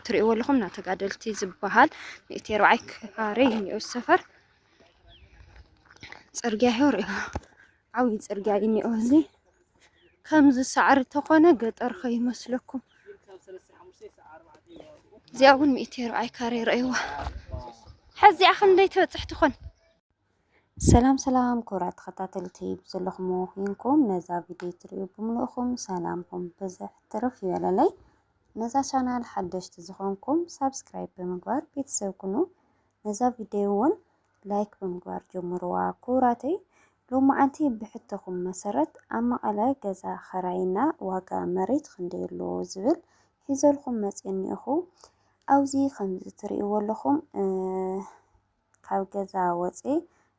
ትሪእዎ ኣለኹም እና ተጋደልቲ ዝበሃል ሚእቲ ኣርባዓይ ካሬ እዩ እኒኦ ሰፈር ፅርግያ ይኸው ሪኦ ዓብዪ ፅርግያ እዩ እኒኦ እዚ ከምዚ ሳዕሪ ተኾነ ገጠር ከይመስለኩም እዚኣ እውን ሚእቲ ኣርባዓይ ካሬ ረእይዋ ሕዚኣ ክንደይ ትበፅሕ ትኾን ሰላም ሰላም ክብራት ተኸታተልቲ ብዘለኹም ኮይንኩም ነዛ ቪድዮ ትሪኡ ብምልእኹም ሰላምኩም ብዝሕ ትርፍ ይበለለይ። ነዛ ቻናል ሓደሽቲ ዝኾንኩም ሳብስክራይብ ብምግባር ቤተሰብ ኩኑ። ነዛ ቪድዮ እውን ላይክ ብምግባር ጀምርዋ ክቡራተይ። ሎሚ ዓንቲ ብሕቶኹም መሰረት ኣብ መቐለ ገዛ ኸራይና ዋጋ መሬት ክንደይ ኣሎ ዝብል ሒዘልኩም መፅእ እኒኦኹ። ኣብዚ ከምዚ ትሪእዎ ኣለኹም ካብ ገዛ ወጼ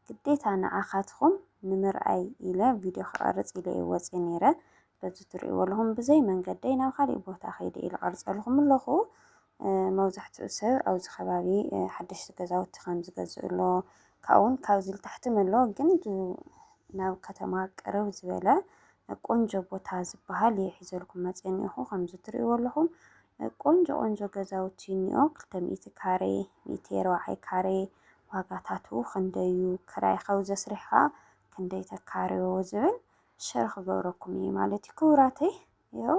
ግዴታ ንዓኻትኹም ንምርኣይ ኢለ ቪድዮ ክቐርጽ ኢለ እየ ወጼ ኔረ በዚ ትርእይዎ ኣለኹም ብዘይ መንገደይ ናብ ካሊእ ቦታ ከይደ ኢለ ቀርጸልኹም ኣለኹ መብዛሕትኡ ሰብ ኣብዚ ከባቢ ሓደሽቲ ገዛውቲ ከም ዝገዝእ ኣሎ ካብኡውን ካብዚ ልታሕትም ኣሎ ግን ናብ ከተማ ቅርብ ዝበለ ቆንጆ ቦታ ዝበሃል እየ ሒዘልኩም መጼ እኒኦኹ ከምዚ ትርእይዎ ኣለኹም ቆንጆ ቆንጆ ገዛውቲ እኒኦ ክልተ ሚእቲ ካሬ ሚእቲ ኣርባዓይ ካሬ ዋጋታቱ ክንደይ እዩ ክራይ ሓውዚ ኣስሪሕኻ ክንደይ ተካርዮ ዝብል ሸር ክገብረኩም እየ ማለት እዩ ክቡራተይ ይኸው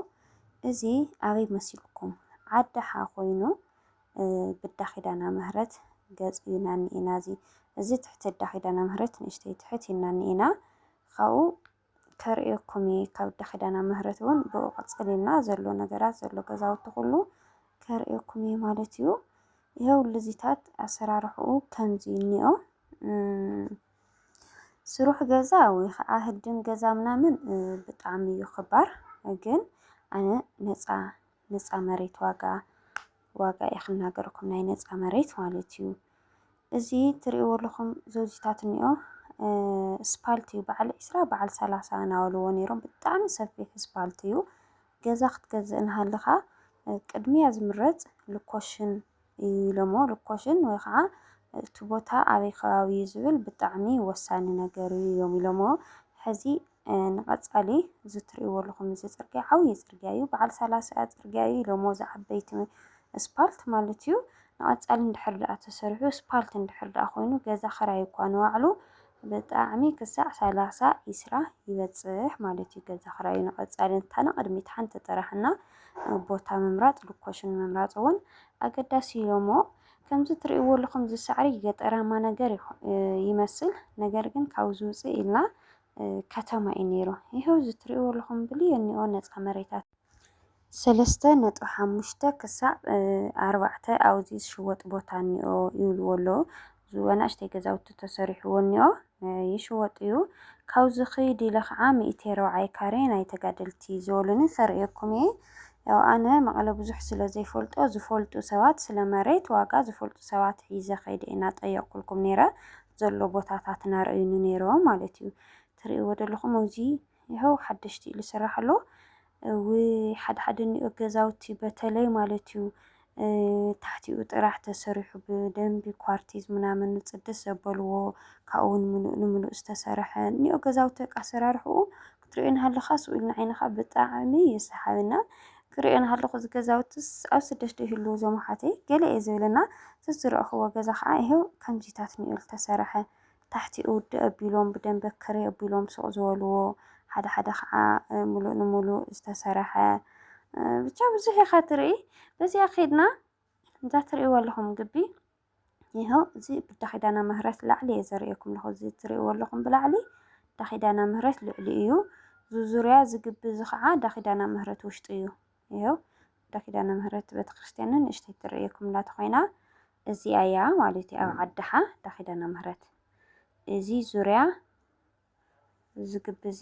እዚ ኣበይ መሲልኩም ዓዳሓ ኮይኑ ብዳ ኪዳና ምህረት ገፅ እዩና እኒኤና እዚ እዚ ትሕቲ እዳ ኪዳና ምህረት ንእሽተይ ትሕት ኢልና እኒኤና ካብኡ ከርእየኩም እየ ካብ ኣደ ኪዳና ምህረት እውን ብኡ ቀጸሊልና ዘሎ ነገራት ዘሎ ገዛውቲ ኩሉ ከርእየኩም እየ ማለት እዩ ይኸው ልዚታት ኣሰራርሕኡ ከምዚ እኒኦ ስሩሕ ገዛ ወይ ከዓ ህድም ገዛ ምናምን ብጣዕሚ እዩ ክባር ግን ኣነ ነፃ ነፃ መሬት ዋጋ ዋጋ እየ ክናገረኩም ናይ ነፃ መሬት ማለት እዩ እዚ ትርእይዎ ኣለኹም ዘውዚታት እኒኦ ስፓልት እዩ በዓል ዒስራ በዓል ሰላሳ እናበልዎ ነይሮም ብጣዕሚ ሰፊሕ ስፓልት እዩ ገዛ ክትገዝእ እናሃለኻ ቅድሚያ ዝምረፅ ልኮሽን እዩ ኢሎሞ ልኮሽን ወይ ከዓ እቲ ቦታ ኣበይ ከባቢ እዩ ዝብል ብጣዕሚ ወሳኒ ነገር እዩ እዮም ኢሎሞ ሕዚ ንቐፃሊ እዚ እትሪእዎ ኣለኹም እዚ ፅርግያ ዓብዪ ፅርግያ እዩ። በዓል ሰላሳ ፅርግያ እዩ ኢሎሞ እዚ ዓበይቲ እስፓልት ማለት እዩ። ንቐፃሊ እንድሕር ደኣ ተሰሪሑ እስፓልት እንድሕር ደኣ ኮይኑ ገዛ ክራይ እኳ ንባዕሉ ብጣዕሚ ክሳዕ ሰላሳ ዒስራ ይበፅሕ ማለት እዩ። ገዛ ክራዩ ንቐፃሊ እንታ ንቕድሚት ሓንቲ ጥራሕ እና ቦታ ምምራፅ ሎኮሽን ምምራፅ እውን ኣገዳሲ እዩ እሞ ከምዚ እትሪእዎ ኣለኹም እዚ ሳዕሪ ገጠራማ ነገር ይመስል ነገር ግን ካብዚ ውፅእ ኢልና ከተማ እዩ ነይሩ። ይሀው እዚ ትሪእዎ ኣለኹም ብልዮኒኦ ነፃ መሬታት። ሰለስተ ነጥቢ ሓሙሽተ ክሳብ ኣርባዕተ ኣብዚ ዝሽወጥ ቦታ እኒኦ ይብልዎ ኣለዉ። እዚ ኣናእሽተይ ገዛውቲ ተሰሪሕዎ እኒኦ ይሽወጥ እዩ። ካብዚ ክይድ ኢለ ከዓ ሚእቲ ኣርባዓይ ካሬ ናይ ተጋደልቲ ዝበሉኒ ከርእየኩም እየ። ያው ኣነ መቐለ ብዙሕ ስለ ዘይፈልጦ ዝፈልጡ ሰባት ስለ መሬት ዋጋ ዝፈልጡ ሰባት ሒዘ ከይደ ኢና ጠየቕኩልኩም ነይረ። ዘሎ ቦታታት እናረኣዩኒ ነይሮም ማለት እዩ። ትርእይዎ ዘለኹም ኣብዚ ይኸው ሓደሽቲ እዩ ዝስራሕ ኣሎ። እውይ ሓደ ሓደ እኒኦ ገዛውቲ በተለይ ማለት እዩ እ፣ ታሕቲኡ ጥራሕ ተሰሪሑ ብደንቢ ኳርቲዝ ምናምን ጽድት ዘበልዎ ካብኡ እውን ምሉእ ንምሉእ ዝተሰርሐ እኒኦ ገዛውቲ በቃ ኣሰራርሕኡ ክትሪኦ ናሃለኻ ስቅ ኢሉ ንዓይንኻ ብጣዕሚ እዩ ሰሓቢ እና ክሪኦ ናሃለኹ እዚ ገዛውትስ ኣብ ስደት ዶ ይህልዉ እዞም ኣሓተይ ገለ እየ ዝብል እና ዝዝረእኽዎ ገዛ ኸዓ ይሄው ከምዚታት ኒኡ ዝተሰርሐ ታሕቲኡ ውዲ ኣቢሎም ብደንበ ክሪ ኣቢሎም ስቅ ዝበልዎ ሓደ ሓደ ኸዓ ሙሉእ ንሙሉእ ዝተሰርሐ ብቻ ብዙሕ ኢኻ ትሪኢ በዚኣ ከይድና እዛ ትሪእዋ ኣለኹም ግቢ ይሀው እዚ ብዳ ኪዳነ ምህረት ላዕሊ እየ ዘርእየኩም ኣለኹ እዚ እትርእይዎ ኣለኹም ብላዕሊ ዳ ኪዳነ ምህረት ልዕሊ እዩ ዙዙርያ ዝግቢ እዚ ከዓ ዳ ኪዳነ ምህረት ውሽጢ እዩ ይሀው ዳ ኪዳነ ምህረት ቤተክርስትያንን ንእሽተይ ትርእየኩም እላ ተኾይና እዚኣ እያ ማለት እዩ ኣብ ዓድሓ ዳ ኪዳነ ምህረት እዚ ዙርያ እዚ ግቢ እዚ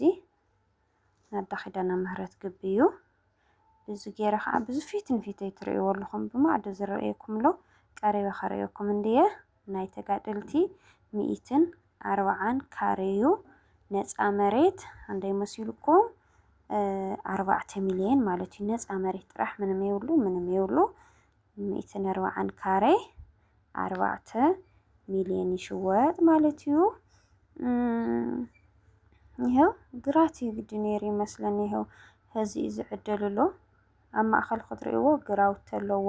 ናይ ኣዳ ኪዳነ ምህረት ግቢ እዩ። እዚ ገይረ ከዓ ብዙ ፊት ንፊት ትርእይዎ ኣለኹም ብማዕዶ ዝረኣየኩም ኣሎ ቀሪበ ከርእየኩም እንድየ ናይ ተጋደልቲ ሚኢትን ኣርብዓን ካሬ እዩ። ነፃ መሬት አንደይ መሲልኩም ኣርባዕተ ሚሊየን ማለት እዩ። ነፃ መሬት ጥራሕ ምንም የብሉ ምንም የብሉ። ሚእትን ኣርባዓን ካሬ ኣርባዕተ ሚልዮን ይሽወጥ ማለት እዩ። ይኸው ግራት እዩ ግዲ ነይሩ ይመስለኒ። ይኸው ሕዚ እዩ ዝዕደሉ ኣሎ። ኣብ ማእኸል ክትርእይዎ ግራውቲ ኣለዎ።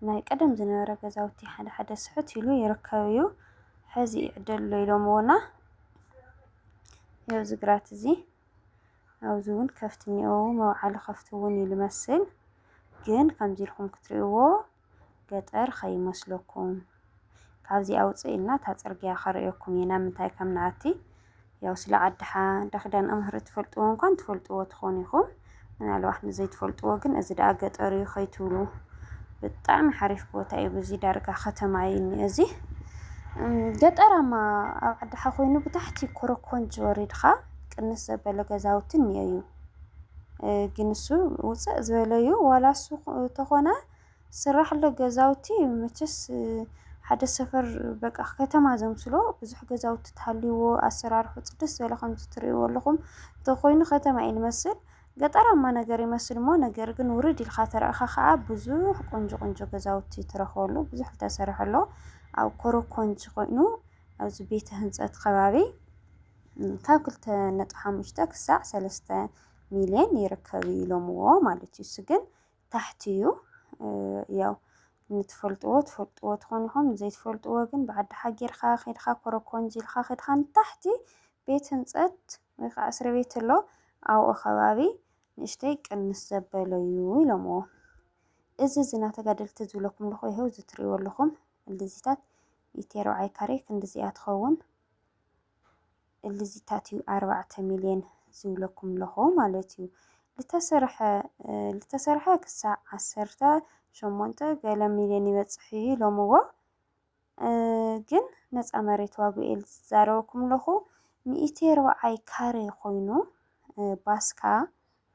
ናይ ቀደም ዝነበረ ገዛውቲ ሓደ ሓደ ስሕት ኢሉ ይርከብ እዩ። ሕዚ ይዕደሉ ኢሎምዎና። ይኸው እዚ ግራት እዚ ኣብዚ እውን ከፍቲ እኒኦ መውዓሊ ከፍቲ እውን እዩ ልመስል ግን ከምዚ ኢልኩም ክትርእይዎ ገጠር ከይመስለኩም ካብዚኣ ውፅእ ኢልና እታ ፅርግያ ከርእየኩም እየ ናብ ምንታይ ከም ንኣቲ ያው ስለ ዓድሓ እንዳ ክዳን እምህሪ ትፈልጥዎ እንኳን ትፈልጥዎ ትኾኑ ኢኹም ምናልባት ንዘይትፈልጥዎ ግን እዚ ደኣ ገጠር እዩ ከይትብሉ ብጣዕሚ ሓሪፍ ቦታ እዩ። ብዚ ዳርጋ ከተማ እዩ እኒኦ እዚ ገጠራማ ኣብ ዓድኻ ኮይኑ ብታሕቲ ኮረኮንች ወሪድኻ ቅንስ ዘበለ ገዛውቲ እኒኦ እዩ። ግን እሱ ውፅእ ዝበለ እዩ ዋላ እሱ ተኾነ ዝስራሕሉ ገዛውቲ መቸስ ሓደ ሰፈር በቃ ከተማ ዘምስሎ ብዙሕ ገዛውቲ ተሃልይዎ ኣሰራርሑ ጽድት ዝበለ ከምዚ ትርእይዎ ኣለኹም እንተኾይኑ ከተማ እዩ ዝመስል ገጠራማ ነገር ይመስል እሞ ነገር ግን ውርድ ኢልካ ተረእኻ ኸዓ ብዙሕ ቆንጆ ቆንጆ ገዛውቲ ትረኽበሉ ብዙሕ ዝተሰርሐ ኣሎ ኣብ ኮሮኮንች ኮይኑ ኣብዚ ቤተ ህንፀት ከባቢ ካብ ክልተ ነጥቢ ሓሙሽተ ክሳዕ ሰለስተ ሚልዮን ይርከብ ኢሎምዎ ማለት እዩ እሱ ግን ታሕቲ እዩ ያው ንትፈልጥዎ ትፈልጥዎ ትኾኑ ኢኹም ዘይትፈልጥዎ ግን ብዓዲ ሓጌርካ ከድካ ኮረኮንጅ ኢልካ ከድካ ንታሕቲ ቤት ህንፀት ወይ ከዓ እስሪ ቤት ኣሎ ኣብኡ ከባቢ ንእሽተይ ቅንስ ዘበለ እዩ ኢሎምዎ እዚ ዝና ተጋደልቲ ዝብለኩም ኣለኹ ይኸው እዚ ትሪእዎ ኣለኹም ልዚታት ኢቲ ኣርብዓይ ካሬ ክንዲዚኣ ትኸውን እልዚታት እዩ ኣርባዕተ ሚልዮን ዝብለኩም ለኹ ማለት እዩ ልተሰርሐ ልተሰርሐ ክሳዕ ዓሰርተ ሸሞንተ ገለ ሚልዮን ይበጽሕ እዩ ኢሎምዎ ግን ነፃ መሬት ዋግኡ እየ ዝዛረበኩም ለኹ ሚእቲ ኣርባዓይ ካሬ ኮይኑ ባስካ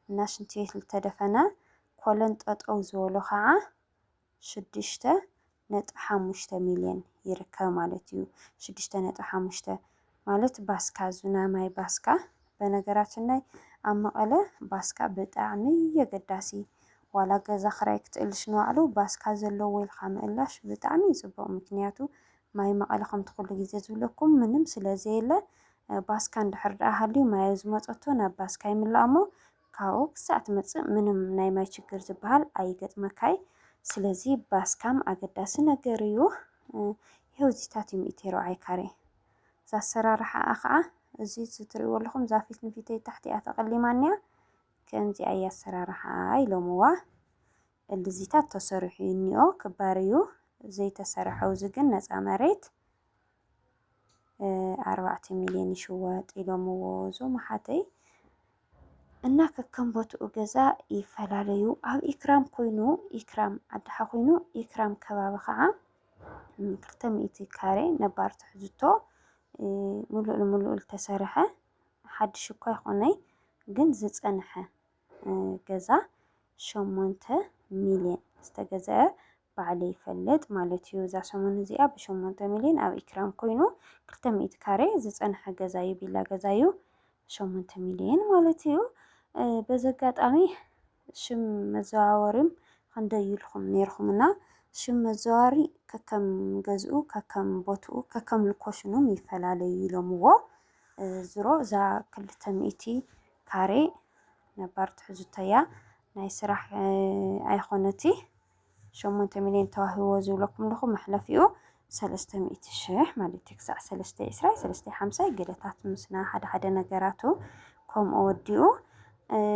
እና ሽንቲ ቤት ልተደፈነ ኮለን ጠጠው ዝበሎ ከዓ ሽዱሽተ ነጥቢ ሓሙሽተ ሚልዮን ይርከብ ማለት እዩ። ሽዱሽተ ነጥቢ ሓሙሽተ ማለት ባስካ ዙና ማይ ባስካ በነገራችን ላይ ኣብ መቐለ ባስካ ብጣዕሚ የገዳሲ ዋላ ገዛ ክራይ ክትእልሽ ንባዕሉ ባስካ ዘለዎ ኢልካ ምእላሽ ብጣዕሚ እዩ ፅቡቕ ምክንያቱ ማይ መቐለ ከምቲ ኩሉ ግዜ ዝብለኩም ምንም ስለዘየለ ባስካ እንድሕር ደኣ ሃልዩ ማይ ኣብ ዝመፀቶ ናብ ባስካ ይምላእ እሞ ካብኡ ክሳዕ ትመጽእ ምንም ናይ ማይ ችግር ዝብሃል ኣይገጥመካይ ስለዚ ባስ ካም ኣገዳሲ ነገር እዩ ይሀው እዚታት እዩ ሚእቲ ርብዓይ ካሬ እዛ ኣሰራርሓኣ ከዓ እዚ ዝትሪእዎ ኣለኹም እዛ ፊት ንፊተይ ታሕቲኣ ተቐሊማ እኒኣ ከምዚኣ እያ ኣሰራርሓኣ ኢሎምዋ እልዚታት ተሰሪሑ እዩ እኒኦ ክባር እዩ ዘይተሰረሐው እዚ ግን ነፃ መሬት ኣርባዕተ ሚሊዮን ይሽወጥ ኢሎምዎ እዞም ኣሓተይ እና ከከም ቦትኡ ገዛ ይፈላለዩ ኣብ ኢክራም ኮይኑ ኢክራም ኣድሓ ኮይኑ ኢክራም ከባቢ ከዓ ክልተ ሚእቲ ካሬ ነባር ትሕዝቶ ምሉእ ንምሉእ ዝተሰርሐ ሓድሽ እኳ ይኾነይ ግን ዝፀንሐ ገዛ ሸሞንተ ሚልዮን ዝተገዝአ ባዕለይ ይፈልጥ ማለት እዩ። እዛ ሰሙን እዚኣ ብሸሞንተ ሚልዮን ኣብ ኢክራም ኮይኑ ክልተ ሚእቲ ካሬ ዝፀንሐ ገዛ እዩ፣ ቪላ ገዛ እዩ ሸሞንተ ሚልዮን ማለት እዩ። በዚ ኣጋጣሚ ሽም መዘዋወሪም ክንደይ ኢልኩም ነይርኩምና ሽም መዘዋወሪ ከከም ገዝኡ ከከም ቦትኡ ከከም ልኮሽኑም ይፈላለዩ ኢሎምዎ። ዝሮ እዛ ክልተ ሚእቲ ካሬ ነባር ትሕዝቶ እያ ናይ ስራሕ ኣይኮነቲ ሸሞንተ ሚልዮን ተዋሂቦ ዝብለኩም ኣለኹ መሕለፊኡ ሰለስተ ሚእቲ ሽሕ ማለት እዩ ክሳዕ ሰለስተ ዕስራይ ሰለስተ ሓምሳይ ገለታት ምስና ሓደ ሓደ ነገራቱ ከምኡ ወዲኡ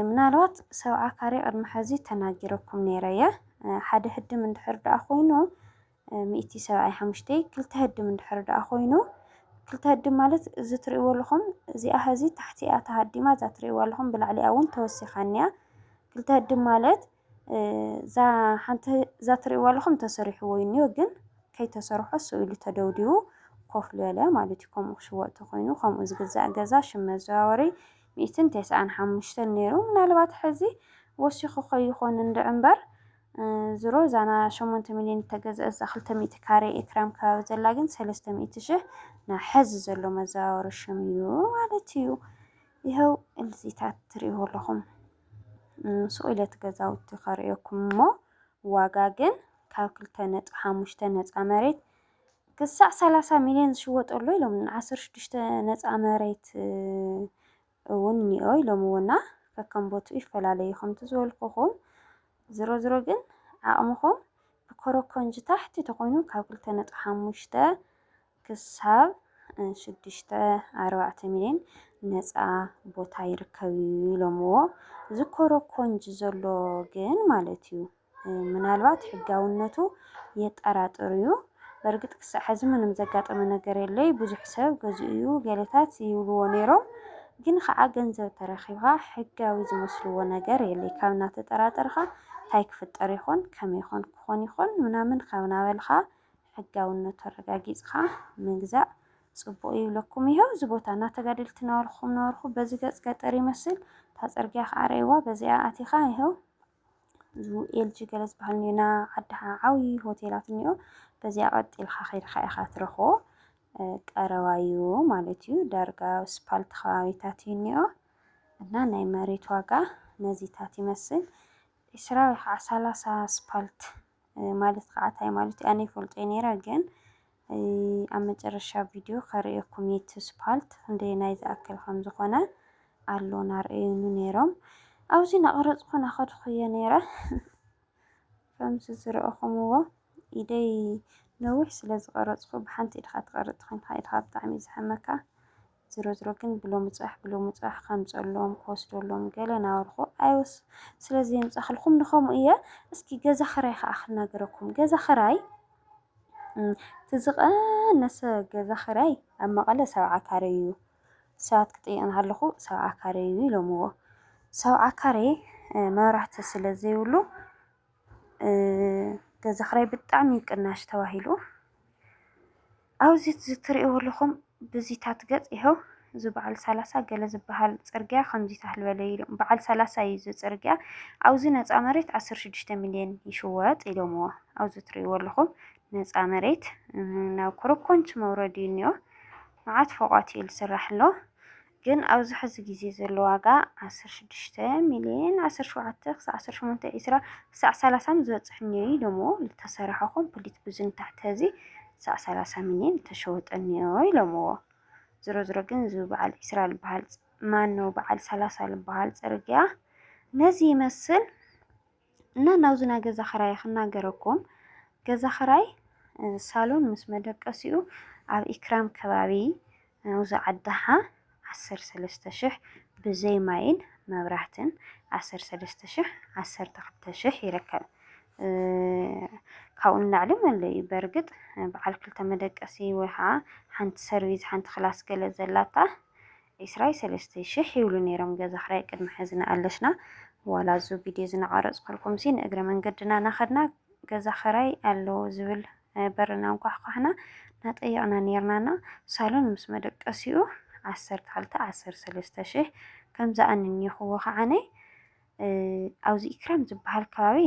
ምናልባት ሰብዓ ካሬ ቅድሚ ሕዚ ተናጊረኩም ነይረ እየ ሓደ ህድም እንድሕር ደኣ ኮይኑ ሚእቲ ሰብዓይ ሓሙሽተይ ክልተ ህድም እንድሕር ደኣ ኮይኑ ክልተ ህድም ማለት እዚ ትርእይዎ ኣለኹም እዚኣ ሀዚ ታሕቲኣ ተሃዲማ እዛ ትርእይዋ ኣለኹም ብላዕሊኣ እውን ተወሲኻ እኒኣ ክልተ ህድም ማለት እዛ ሓንቲ እዛ ትርእይዋ ኣለኹም ተሰሪሕዎ እኒኦ ግን ከይተሰርሖ እሱ ኢሉ ተደውዲቡ ኮፍ ዝበለ ማለት እዩ ከምኡ ክሽወጥ ተኮይኑ ከምኡ ዝግዛእ ገዛ ሽም መዘዋወሪ ሚእትን ተስዓን ሓሙሽተን ነይሩ ምናልባት ሕዚ ወሲኹ ከይኾን እንድዕ እምበር ዝሮ እዛ ን ሸሞንተ ሚልዮን እተገዝኣት እዛ ክልተ ሚእቲ ካሬ ኤክራም ከባቢ ዘላ ግን ሰለስተ ሚእቲ ሽሕ ናብ ሐዚ ዘሎ መዘዋወሪ ሽም እዩ ማለት እዩ። ይኸው እዚታት ትርእይዎ ኣለኹም። ሱቕ ኢለ እቲ ገዛውቲ ከርእየኩም እሞ ዋጋ ግን ካብ ክልተ ነጥቢ ሓሙሽተ ነፃ መሬት ክሳዕ ሰላሳ ሚልዮን ዝሽወጠሉ ኢሎም ዓሰርተ ሽዱሽተ ነፃ መሬት እውን እኒኦ ኢሎምዎና ከከም ቦትኡ ይፈላለ እዩ ከምቲ ዝበልኩኹም ዝሮ ዝሮ ግን ዓቕምኹም ብኮረኮንጅ ታሕቲ ተኾይኑ ካብ ክልተ ነጥቢ ሓሙሽተ ክሳብ ሽዱሽተ ኣርባዕተ ሚሊዮን ነፃ ቦታ ይርከብ እዩ ኢሎምዎ እዚ ኮረኮንጅ ዘሎ ግን ማለት እዩ ምናልባት ሕጋውነቱ የጠራጥር እዩ። በርግጥ ክሳዕ ሕዚ ምንም ዘጋጠመ ነገር የለይ ብዙሕ ሰብ ገዚኡ እዩ ገለታት ይብልዎ ነይሮም ግን ከዓ ገንዘብ ተረኪብካ ሕጋዊ ዝመስልዎ ነገር የለይ ካብ እናተጠራጠርካ እንታይ ክፍጠር ይኾን ከመይ ይኾን ክኾን ይኾን ምናምን ካብ ናበልካ ሕጋውነቱ ኣረጋጊፅካ ምግዛእ ፅቡቅ እዩ ይብለኩም ይሀው እዚ ቦታ እናተጋደልቲ ናበልኩም ነበርኩ በዚ ገፅ ገጠር ይመስል እታ ፅርግያ ከዓ ርእይዋ በዚኣ ኣቲኻ ይሀው ኤልጂ ገለ ዝበሃል እኒኦ ና ዓዲ ዓብዪ ሆቴላት እኒኦ በዚኣ ቀጥ ኢልካ ከይድካ ኢኻ ትረኽቦ ቀረባ እዩ ማለት እዩ ዳርጋ ስፓልት ከባቢታት እዩ እኒኦ እና ናይ መሬት ዋጋ ነዚታት ይመስል ዕስራ ወይ ከዓ ሰላሳ ስፓልት ማለት ከዓ እንታይ ማለት እዩ ኣነ ይፈልጦ ነይረ ግን ኣብ መጨረሻ ቪድዮ ከርእየኩም እየ እቲ ስፓልት ክንደየናይ ዝኣክል ከም ዝኾነ ኣሎ ናርእዩኒ ነይሮም ኣብዚ ናቐረፅኩ ናኸድኩ እየ ነይረ ከምዚ ዝረእኹምዎ ኢደይ ነዊሕ ስለ ዝቐረፅኩ ብሓንቲ ኢድኻ ትቐርፅ ኮይንካ ኢድኻ ብጣዕሚ እዩ ዝሕመካ ዝሮዝሮ ግን ብሎሚ ጽባሕ ብሎሚ ጽባሕ ከምጸሎም ክወስደሎም ገለ ናበልኩ ኣይወስ ስለ ዘየምጻክልኩም ንከምኡ እየ እስኪ ገዛ ክራይ ከዓ ክናገረኩም ገዛ ክራይ ትዝቀነሰ ገዛ ክራይ ኣብ መቐለ ሰብዓ ካሬ እዩ ሰባት ክጥይቕ እንሃለኹ ሰብዓ ካሬ እዩ ኢሎምዎ ሰብዓ ካሬ መብራህቲ ስለ ዘይብሉ ገዛ ክራይ ብጣዕሚ ቅናሽ ተባሂሉ ኣብዚ ትሪእዎ ኣለኹም ብዚታት ገፅ ይሀው እዚ በዓል ሰላሳ ገለ ዝበሃል ፅርግያ ከምዚ ታህል በለ ኢሉ በዓል ሰላሳ እዩ እዚ ፅርግያ ኣብዚ ነፃ መሬት ዓሰርተ ሽዱሽተ ሚሊዮን ይሽወጥ ኢሎምዎ ኣብዚ ትሪእዎ ኣለኹም ነፃ መሬት ናብ ኮረኮንች መውረዲ እኒኦ መዓት ፎቋት እዩ ዝስራሕ ኣሎ ግን ኣብዚ ሕዚ ግዜ ዘሎ ዋጋ ዓሰርተ ሽዱሽተ ሚልየን ዓሰርተ ሸውዓተ ክሳዕ ዓሰርተ ሸሞንተ ዒስራ ክሳዕ ሰላሳ ምዝበጽሕ እኒኦ እዩ ኢሎምዎ ልተሰረሐ ኮምፕሊት ብዙ ንታሕቲ ሀዚ ክሳዕ ሰላሳ ሚልየን ልተሸወጠ እኒኦ ኢሎምዎ ዝሮ ዝሮ ግን እዚ በዓል ዒስራ ልበሃል ማነው በዓል ሰላሳ ልበሃል ጽርግያ ነዚ ይመስል እና ናብዚ ናይ ገዛ ክራይ ክናገረኩም ገዛ ክራይ ሳሎን ምስ መደቀሲኡ ኣብ ኢክራም ከባቢ ናብዚ ዓዳሓ ዓሰርተ ሰለስተ ሽሕ ብዘይ ማይን መብራህትን ዓሰርተ ሰለስተ ሽሕ ዓሰርተ ክልተ ሽሕ ይርከብ። ካብኡ ንላዕሊ መለ እዩ በርግጥ በዓል ክልተ መደቀሲ ወይ ከዓ ሓንቲ ሰርቪስ ሓንቲ ክላስ ገለ ዘላታ ዒስራይ ሰለስተይ ሽሕ ይብሉ ነይሮም ገዛ ክራይ ቅድሚ ሐዚ ንኣለሽና ዋላ እዙ ቪድዮ ዝናቀረፅኩልኩምሲ ንእግረ መንገድና ናኸድና ገዛ ክራይ ኣሎ ዝብል በርና እንኳሕኳሕና ናጠየቅና ነይርና እና ሳሎን ምስ መደቀሲኡ ዓሰርተ ክልተ ዓሰርተ ሰለስተ ሽሕ ከምዛ ኣንኒኹዎ ከዓነ ኣብዚ ኢክራም ዝበሃል ከባቢ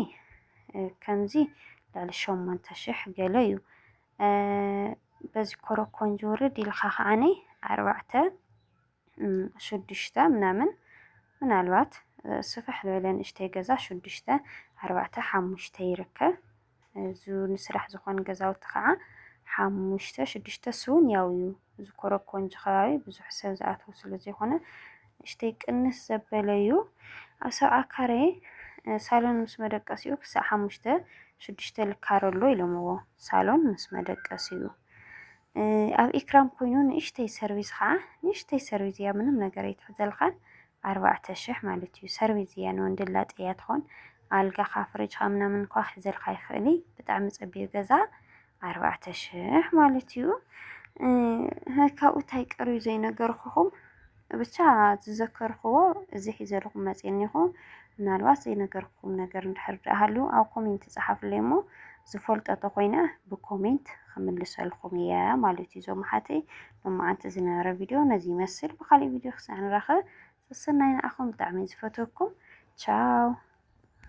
ከምዚ ልዕሊ ሸሞንተ ሽሕ ገለ እዩ በዚ ኮሮኮንጅ ውርድ ኢልካ ከዓኒ ኣርባዕተ ሽዱሽተ ምናምን ምናልባት ስፍሕ ዝበለ ንእሽተይ ገዛ ሽዱሽተ ኣርባዕተ ሓሙሽተ ይርከብ እዚ ንስራሕ ዝኾን ገዛውቲ ከዓ ሓሙሽተ ሽዱሽተ ስውን ያው እዩ እዚ ኮሮኮንጅ ከባቢ ብዙሕ ሰብ ዝኣትዎ ስለ ዘይኮነ ንእሽተይ ቅንስ ዘበለ እዩ። ኣብ ሰብዓ ካሬ ሳሎን ምስ መደቀሲኡ ክሳዕ ሓሙሽተ ሽዱሽተ ልካረ ኣሎ ኢሎምዎ። ሳሎን ምስ መደቀሲኡ ኣብ ኢክራም ኮይኑ ንእሽተይ ሰርቪስ ከዓ ንእሽተይ ሰርቪስ እያ ምንም ነገር ኣይትሕዘልኻን ኣርባዕተ ሽሕ ማለት እዩ። ሰርቪስ እያ ንወንድላጤ እያ ትኾን ኣልጋኻ ፍርጅኻ ምናምን እኳ ክሕዘልካ ይኽእል ብጣዕሚ ፀቢብ ገዛ ኣርባዕተ ሽሕ ማለት እዩ ካብኡ ታይ ቀርዩ ዘይነገርኩኹም ብቻ ዝዘከርክዎ እዚ ሒዘልኹም መፅየ እኒኹ ምናልባት ዘይነገርኩኹም ነገር እንድሕር ድኣ ሃልዩ ኣብ ኮሜንት ፀሓፍለይ እሞ ዝፈልጦ ተኾይነ ብኮሜንት ክምልሰልኩም እየ ማለት እዩ ዞም ሓተይ ሎማዓንቲ ዝነበረ ቪድዮ ነዚ ይመስል ብካሊእ ቪድዮ ክሳዕ ንራኸብ ሰሰናይ ንዓኹም ብጣዕሚ ዝፈትወኩም ቻው